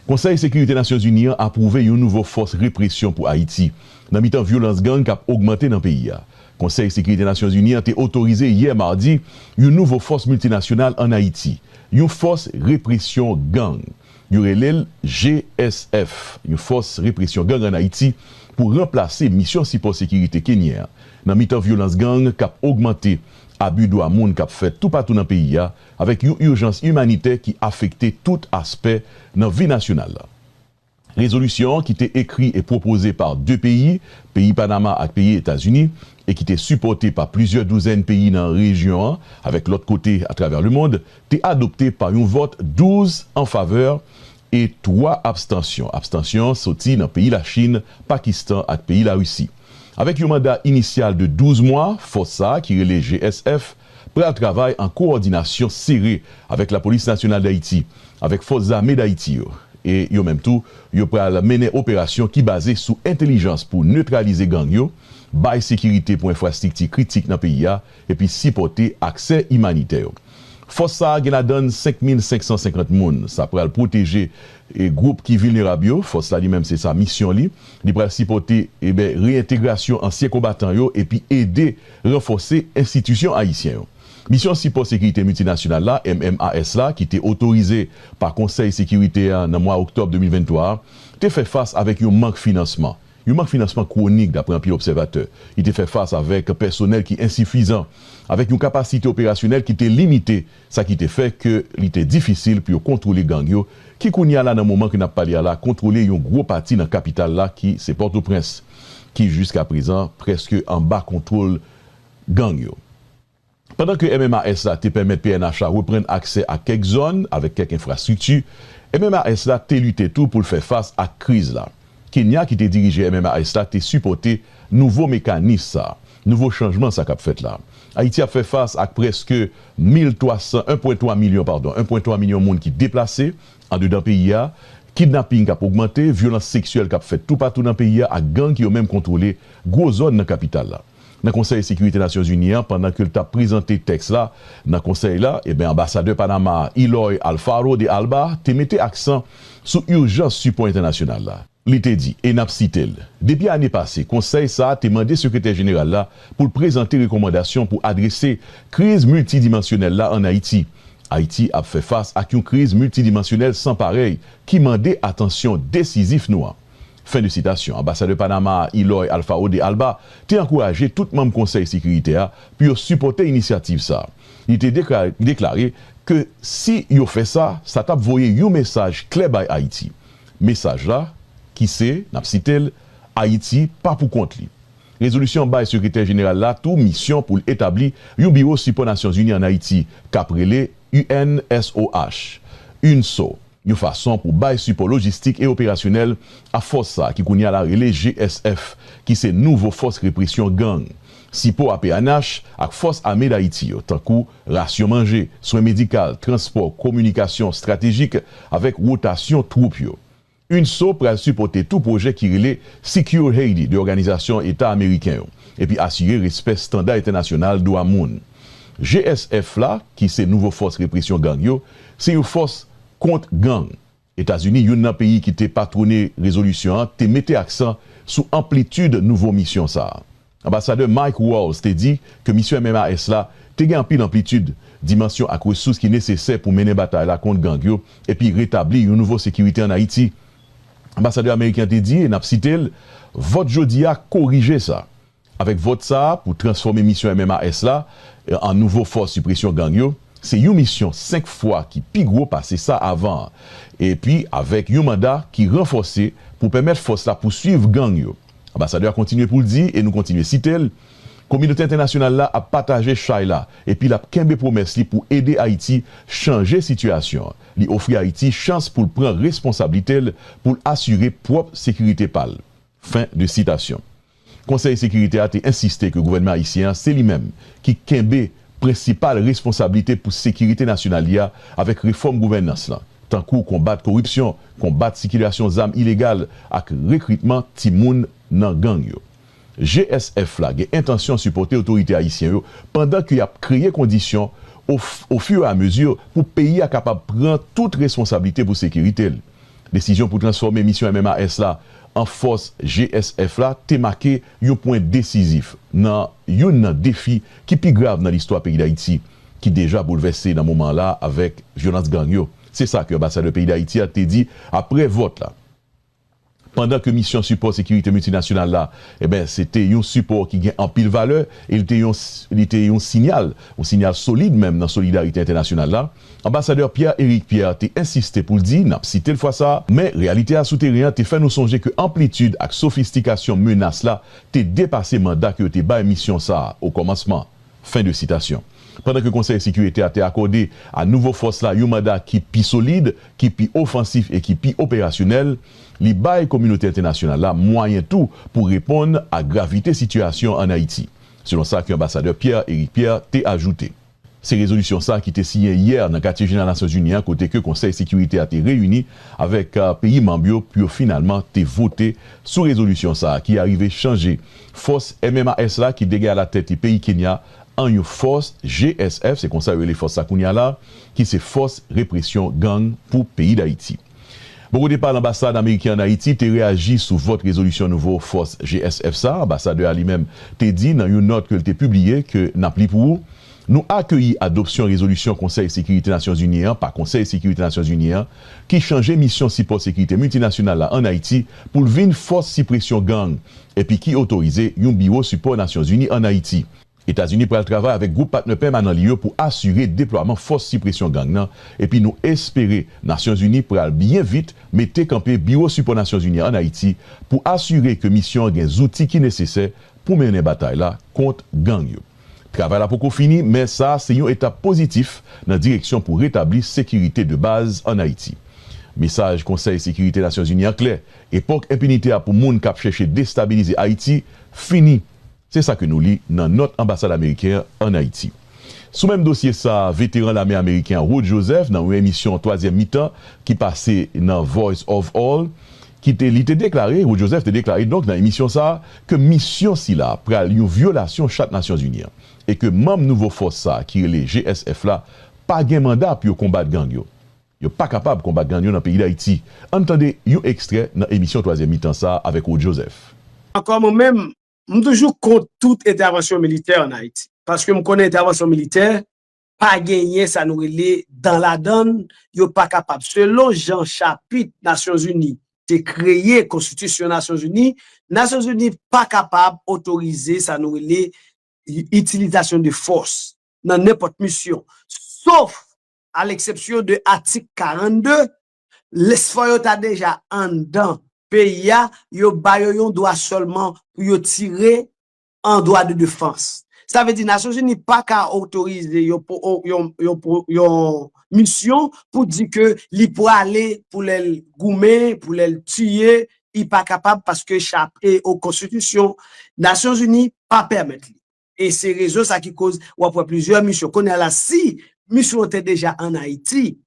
Konsèy Sekirite Nasyonzini an apwouve yon nouvo fòs represyon pou Ayiti, nan mitan vyolans gang k ap ogmante nan peyi a. Konsèy Sekirite Nasyonzini an te otorize yè madi yon nouvo fòs miltinasyonal ann Ayiti, yon fòs represyon gang. Yo rele l GSF, yon fòs represyon gang ann Ayiti, pou ranplase Misyon Sipò Sekirite Kenyen an. Nan mitan vyolans gang k ap ogmante, abi dwa moun k ap fèt toupatou nan peyi a, avèk yon urjans imanitè ki afekte tout aspè nan vi nasyonal la. Rezolisyon an ki te ekri e pwopoze pa 2 peyi, peyi Panama ak peyi Etazini, e ki te sipòte pa plizyè douzèn peyi nan rejyon an avèk lòt kote atravè lemond, te adopte pa yon vòt 12 an favè e 3 abstansyon, abstansyon soti nan peyi Lachin, Pakistan ak peyi Larisi. Avèk yon manda inisyal de 12 mwa, fòs sa ki rele GSF, pral travay an kowòdinasyon sere avèk Lapolis Nasyonal Dayiti, avèk Fòs Zame Dayiti yo, e yo menm tou, yo pral mennen operasyon ki baze sou entelijans pou netralize gang yo, bay sekirite pou enfrastrikti kritik nan peyi a, epi sipòte aksè imanitè yo. Fòs sa a gen ladan n 5550 moun, sa pral pwoteje gwoup ki vilnerab yo, fòs la li menm se sa misyon li, li pral sipòte reentegrasyon ansyen konbatan yo epi ede. Ranfòse enstitisyon ayisyen yo. Misyon Sipò Sekirite Miltinasyonal la, MMAS, la, ki te otorize pa Konsèy Sekirite a nan mwa oktòb 2023 a, te fè fas avèk yon mank finansman, yon mank finansman kwonik dapre anpil obsèvatè. Li te fè fas avèk pèsonèl ki ensifizan, avèk yon kapasite operasyonèl ki te limite sa ki te fè ke li te difisil pou yo kontwole gang yo ki kounye a la nan moman ke nap pale a la kontwole yon gwo pati nan kapital la ki se Pòtoprens ki jiska prezan prèske anba kontwol gang yo. Pandan ke MMAS la te pèmèt pnh la reprann aksè ak kèk zòn avèk kèk enfrastrikti, MMAS la te lite tou pou l fè fas ak kriz la. Kenya ki te dirije MMAS la te sipòte Nouvo mekanis sa, nouvo chanjman sa k ap fèt la. Ayiti ap fè fas ak prèske 1.300, 1.3 milyon padon, 1.3 milyon moun ki deplase andedan peyi a, kidnaping k ap ogmante, vyolans seksyèl k ap fèt toupatou nan peyi a ak gang ki yo menm kontwole gwo zòn nan kapital la. Nan Konsèy Sekirite Nasyonzini an, pandan ke l t ap prezante tèks la nan konsèy la, eben anbasadè Panama a, Eloy Alfaro de Alba, te mete aksan sou urjans sipò entènasyonal la. Li te di, e n ap site l, Depi ane pase, Konsèy sa a te mande Sekretè Jeneral la pou l prezante rekòmandasyon pou adrese kriz miltidimansyonèl la ann Ayiti. Ayiti ap fè fas ak yon kriz miltidimansyonèl san parèy ki mande atansyon desizif nou an. Fen de sitasyon. Anbasadè Panama a, Eloy Alfaro de Alba, te ankouraje tout manm Konsèy Sekirite a pou yo sipòte inisyativ sa a. Li te deklare ke si yo fè sa, sa t ap voye yon mesaj klè bay Ayiti. Mesaj la, ki se, n ap site l, Ayiti pa pou kont li. Rezolisyon an bay Sekretè Jeneral la tou misyon pou l etabli yon biwo sipò Nasyonzini ann Ayiti k ap rele UNSOH, UNSO, yon fason pou bay sipò lojistik e operasyonèl a fòs sa ki kounye a la rele GSF, ki se nouvo Fòs Represyon Gang. Sipo a pnh ak Fòs Ame Dayiti yo, tankou. Rasyon manje, swen medikal, transpò, kominikasyon estratejik, avèk wotasyon twoup yo. Unso pral sipòte tou pwojè ki rele Secure Haiti de Òganizasyon Eta Ameriken yo, epi asire respè standa entènasyonal dwa moun. GSF la, ki se nouvo fòs represyon gang yo, se yon fòs kont gang. Etazini, youn nan peyi ki te patwone rezolisyon an, te mete aksan sou anplitid nouvo misyon sa a. Anbasadè Mike Waltz te di ke misyon MMAS la te gen anpil anplitid, dimansyon ak resous ki nesesè pou mennen batay la kont gang yo epi retabli yon nouvo sekirite ann Ayiti. Anbasadè ameriken an te di, e n ap site l, Vòt jodi a korije sa. Avèk vòt sa a pou transfòme misyon MMAS la an nouvo fòs sipresyon gang yo, se yon misyon 5 fwa ki pi gwo pase sa avan an, epi avèk yon manda ki ranfòse pou pèmèt fòs la pousuiv gang yo. Anbasadè a kontinye pou l di, e nou kontinye site l, Kominote entènasyonal la ap pataje chay la epi l ap kenbe pwomès li pou ede Ayiti chanje sitiyasyon li, ofri Ayiti chans pou l pran responsablite l pou l asire pwòp sekirite pa l. Fen de sitasyon. Konsèy Sekirite a te ensiste ke gouvènman ayisyen an se li menm ki kenbe prensipal responsablite pou sekirite nasyonal li a avèk refòm gouvènans lan, tankou konbat koripsyon, konbat sikilasyon zam ilegal ak rekritman timoun nan gang yo. GSF la gen entansyon sipòte otorite ayisyen yo pandan ke y ap kreye kondisyon o o fur et à mesure pou peyi a kapab pran tout responsablite pou sekirite l. Desizyon pou transfòme misyon MMAS la an fòs GSF la te make yon pwen desizif nan youn nan defi ki pi grav nan listwa peyi Dayiti, ki deja boulvèse nan moman an la avèk vyolans gang yo. Se sa ke anbasadè peyi Dayiti a te di apre vòt la. Pandan ke misyon sipò sekirite miltinasyonal la, enben, se te yon sipò ki gen anpil valè e li te yon li te yon sinyal, yon sinyal solid menm nan solidarite entènasyonal la, Anbasadè Pierre Eric Pierre te ensiste pou l di, n ap site l fwa sa, men reyalite a sou teren an te fè nou sonje ke anplitid ak sofistikasyon menas la te depase manda ke yo te bay misyon sa a okòmansman. Fen de sitasyon. Pandan ke Konsèy Sekirite a te akòde a nouvo fòs la yon manda ki pi solid, ki pi ofansif e ki pi operasyonèl, li bay kominote entènasyonal la mwayen tou pou reponn a gravite sitiyasyon an Ayiti, selon sa ke Anbasadè Pierre Eric Pierre te ajoute. Se rezolisyon sa ki te siyen yè nan katye jeneral Nasyon Zini an kote ke Konsèy Sekirite a te reyini avèk peyi manb yo pou yo finalman te vote sou rezolisyon sa ki arive chanje fòs MMAS la ki te gen alatèt li peyi Kenya an yon fòs GSF, se konsa yo rele fòs sa kounya la, ki se Fòs Represyon Gang pou peyi Dayiti. Bò kote pa l, anbasad ameriken an Ayiti te reyaji sou vòt rezolisyon nouvo fòs GSF sa. Anbasadè a li menm te di nan yon nòt ke l te pibliye ke n ap li pou ou, Nou akeyi adopsyon rezolisyon Konsèy Sekirite Nasyonzini an pa Konsèy Sekirite Nasyonzini an ki chanje Misyon Sipò Sekirite Miltinasyonal la ann Ayiti pou l vin Fòs Sipresyon Gang epi ki otorize yon Biwo Sipò Nasyonzini ann Ayiti. Etazini pral travay avèk gwoup patnè pèmanan li yo pou asire deplwaman fòs sipresyon gang nan epi nou espere Nasyonzini pral byen vit mete kanpe Biwo Sipò Nasyonzini an Ayiti pou asire ke misyon an gen zouti ki nesesè pou mennen batay la kont gang yo. Travay la poko fini men sa se yon etap pozitif nan direksyon pou retabli sekirite de baz an Ayiti. Mesaj Konsèy Sekirite Nasyonzini an klè, Epòk enpinite a pou moun k ap chèche destabilize Ayiti fini. Se sa ke nou li nan nòt anbasad ameriken an ann Ayiti. Sou menm dosye sa, veteran lame ameriken an Rod Joseph nan yon emisyon twazyèm mitan ki pase nan Voice of All ki te li te deklare, Rod Joseph te deklare donk nan emisyon sa ke misyon sila pral yon vyolasyon chat Nasyonzini an e ke manm nouvo fòs sa ki rele GSF la pa gen manda pou yo konbat gang yo. Yo pa kapab konbat gang yo nan peyi Dayiti. Ann tande yon ekstrè nan emisyon twazyèm mitan sa avèk Rod Joseph. Ankò mwen menm, M toujou kont tout entèvansyon militè an Ayiti. Paske m konnen entèvansyon militè pa genyen sa nou rele dan ladan l, yo pa kapab. Selon jan chapit Nasyonzini te kreye konstitisyon Nasyonzini, Nasyonzini pa kapab otorize sa nou rele itilizasyon de fòs nan nenpòt misyon. Sof a leksepsyon de atik 42 Lespò yo ta deja anndan peyi a, yo ba yo yon dwa sèlman pou yo tire an dwa de defans. Sa vle di Nasyonzini pa ka otorize yon misyon pou di ke li prale pou lè l goumen, pou lè l tiye, li pa kapab paske chapte o konstitisyon Nasyonzini pa pèmèt li. E se rezon sa ki koz w ap wè plizyè misyon. Kounye a la, si misyon an te deja an Ayiti,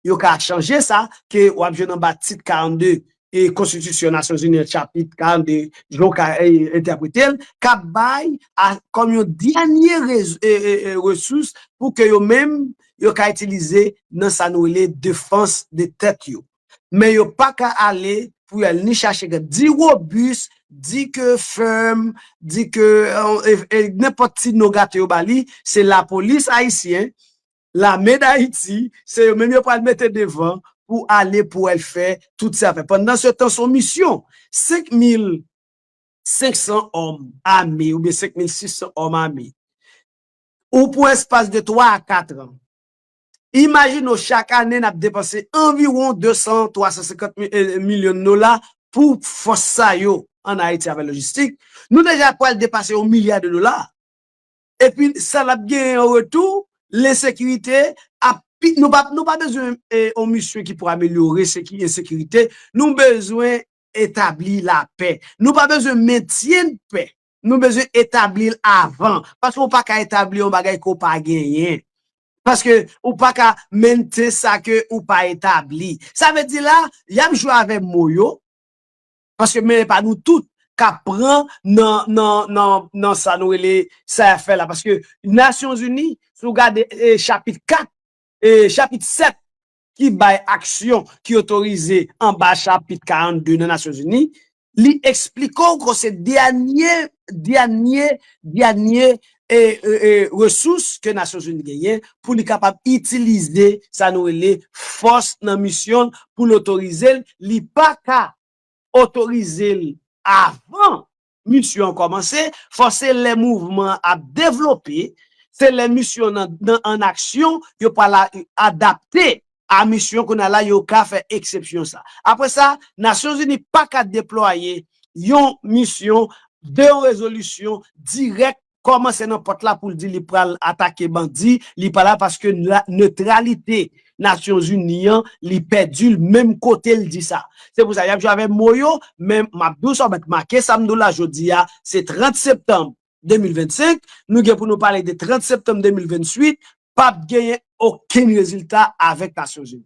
yo ka chanje sa ke w ap jwenn anba Tit 42 e Konstitisyon Nasyonzini an, Chapit 42, jan w ka entèprete l, k ap bay kòm yon dènye resous pou ke yo menm yo ka itilize nan sa nou rele defans de tèt yo. men yo pa ka ale pou yal ni chache gad di robus di ke ferm di ke nenpòt ti non gate yo ba li se lapolis ayisyen lame dayiti se yo menm yo pral mete devan pou ale pou al fè tout sa fè pandan se tan son misyon 5000 500 òm ame oubyen 5600 òm ame ou pou espas de 3 a 4 an. Imajine w chak ane n ap depanse anviwon 200, 350 milyon dola pou fòs sa yo an Ayiti avè lojistik, nou deja pral depase yon milya de dola. Epi sa n ap genyen an retou, lensekirite ap pi, nou pa, nou pa bezwen yon misyon ki pou amelyore seki, ensekirite, nou bezwen etabli lapè. Nou pa bezwen mentyen dpè. Nou bezwen etabli l avan. Paske ou pa ka etabli yon bagay ke w pa genyen. Paske ou pa ka maintain sa ke ou pa etabli. Sa vle di la, y ap jwe avè mo yo, paske men e pa nou tout k ap pran nan sa nou rele sa y ap fè la. Paske Nasyonzini, si w gade chapit 4, chapit 7 ki bay aksyon ki otorize anba Chapit 42 nan Nasyonzini, li esplike w ke se dènye, dènye, dènye resous ke Nasyonzini genyen pou li kapab itilize sa nou rele fòs nan misyon l pou l otorize l, li pa ka otorize l avan Misyon an kòmanse, fò se lè mouvman an ap devlope, se lè misyon an nan an aksyon, yo pral adapte a misyon kounye a la yo ka fè eksepsyon sa. Apre sa, Nasyonzini pa ka deplwaye yon misyon de yon rezolisyon dirèk Koman se nan pòt la poul di li pral atake bandi, li pa la paske neutralite Nations Unies an li pèdil menm kotel di sa. Se pou sa yap jwe avè mo yo, men map diw sa ou mèt make sam diw la jodi a, se 30 septanm 2025, nou gen pou nou pale de 30 septanm 2028, pap genyen okenn rezilta avèk Nations Unies.